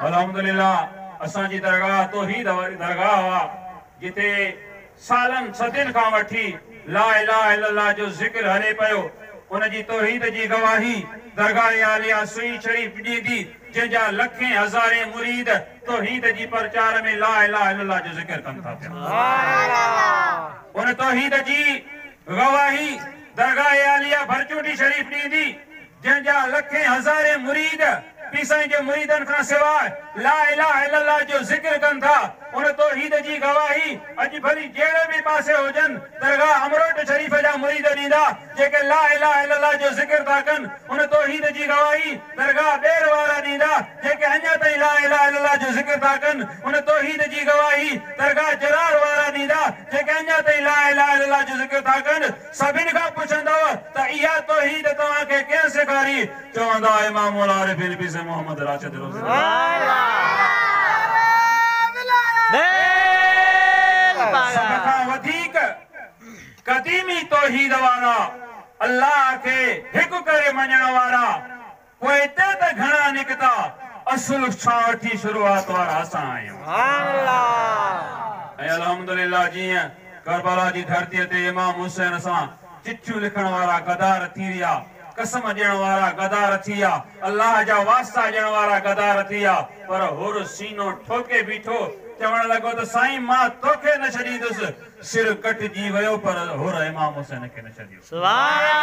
الحمدلله اسان جي درگاهه توحيد واري درگاهه آ جتي سالن صدين کان وٺي لا اله الا الله جو ذڪر هلي پيو ان جي توحيد جي گواهي درگاهه عاليه سهي شريف ڏيندي جنهن جا لکين هزارين مريد توحيد جي پرچار ۾ لا اله الا الله جو ذڪر ڪن ٿا پيا ان توحيد جي گواهي درگاهه عاليه ڀرچوٽي شريف ڏيندي جنهن جا لکين هزارين مريد پير سائين جي مريدن کان سواء لا اله الا الله جو ذڪر ڪن ٿا ان توحيد جي گواهي اڄ ڀلي جهڙي به پاسي هجن درگاهه امروٽ شريف جا مريد ڏيندا جيڪي لا اله الا الله جو ذڪر ٿا ڪن ان توحيد جي گواهي درگاهه ٻير وارا ڏيندا جيڪي اڃا تائين لا اله الا الله جو ذڪر ٿا ڪن ان توحيد جي گواهي درگاهه جرار وارا ڏيندا جيڪي اڃا تائين لا اله الا الله جو ذڪر ٿا ڪن. سڀن کان پڇندؤ ته اها توحيد توهان کي ڪنهن سيکاري؟ چوندا امام العارفين پير سيد محمد راشد روضي رضه الله سڀ کان وڌيڪ قديمي توحيد وارا الله کي هڪ ڪري مڃڻ وارا پوء اتي ته گهڻا نڪتا. اصل شاهه ٿي شروعات وارا اسان آهيون. سبحان الله. ۽ الحمدلله جيئن ڪربلا جي ڌرتي تي امام حسين سان چٺيون لکڻ وارا غدار ٿي ويا، قسم ڏيڻ وارا غدار ٿي ويا، الله جا واسطا ڏيڻ وارا غدار ٿي ويا، پر حر سينو ٺوڪي بيٺو، چوڻ لڳو ته سائين مان توکي نه ڇڏيندس، سر ڪٽجي ويو پر حر امام حسين کي نه ڇڏيو. سبحان الله.